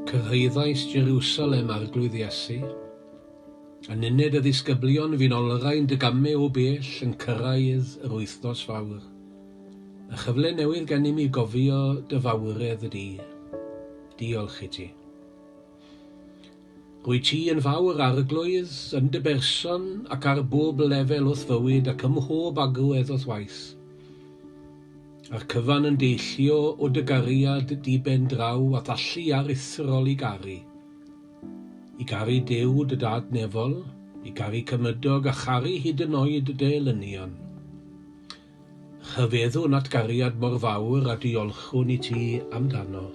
Cyrhaeddais Jerusalem, Arglwydd Iesu. Yn uned y ddisgyblion fi'n olrhain dy gamau o bell yn cyrraedd yr wythnos fawr. Y chyfle newydd gennym i gofio dy fawredd di. Diolch i ti. Rwyt ti yn fawr Arglwydd, yn dy berson ac ar bob lefel o'th fywyd ac ym mhob agwedd o'th waith. A'r cyfan yn deillio o dy gariad diben draw a'th allu aruthrol i garu. I garu Duw dy Dad nefol, i garu Cymydog a charu hyd yn oed dy elynion. Rhyfeddwn at gariad mor fawr a diolchwn i ti amdano.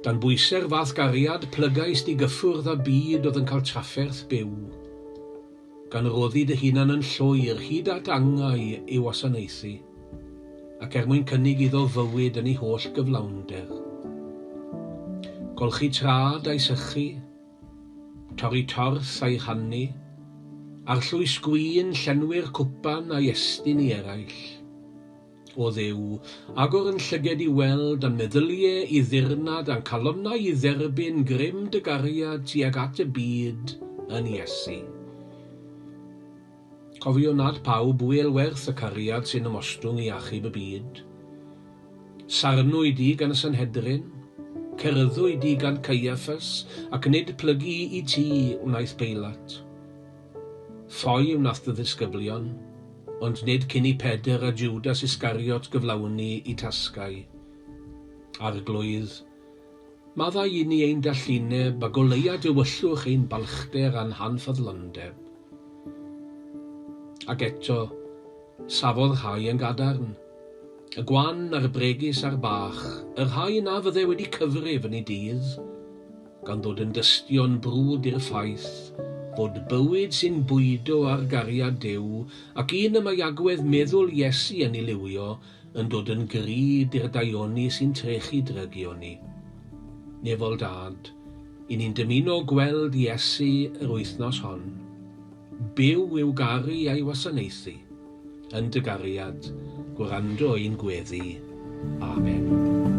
Dan bwyse'r fath gariad, plygais di gyffwrdd â byd oedd yn cael trafferth byw. Gan roddi dy hunan yn llwyr hyd at angau ei wasanaethu, ac er mwyn cynnig iddo fywyd yn ei holl gyflawnder. Golchi tra dau sychu, Torri tors a'i rhannu, arllwys gwin llenwi'r cwpan a'i estyn i eraill. O Dduw, agor yn llyged i weld a'n meddylie i ddirnad a'n calonnau i dderbyn grym dy gariad tuag at y byd yn Iesu. Cofio nad pawb ŵyl werth y cariad sy'n ymostwng i achub y byd. Sarnwyd di gan y Sanhedrin, cerddwyd di gan Caiaffas, ac nid plygu i ti wnaeth Peilat. Ffoi wnath dy ddisgyblion, ond nid cyn i Pedr a Jwdas Iscariot gyflawni i tasgau. Arglwydd, Maddau i ni ein dallineb, a goleuad Dewyllwch ein balchder a'n hanfyddlondeb. Ac eto, safodd rhai yn gadarn, y gwan a'r bregus a'r bach, y rhai na fydde wedi cyfrif yn eu dydd, gan ddod yn dystion brwd i'r ffaith fod bywyd sy'n bwydo ar gariad Duw ac un y mae agwedd meddwl Iesu yn ei liwio yn dod yn grid i'r daioni sy'n trechu drygioni. Nefol Dad, i ni'n dymuno gweld Iesu yr wythnos hon. Byw i'w garu a'i wasanaethu. Yn dy gariad, gwrando ein gweddi. Amen.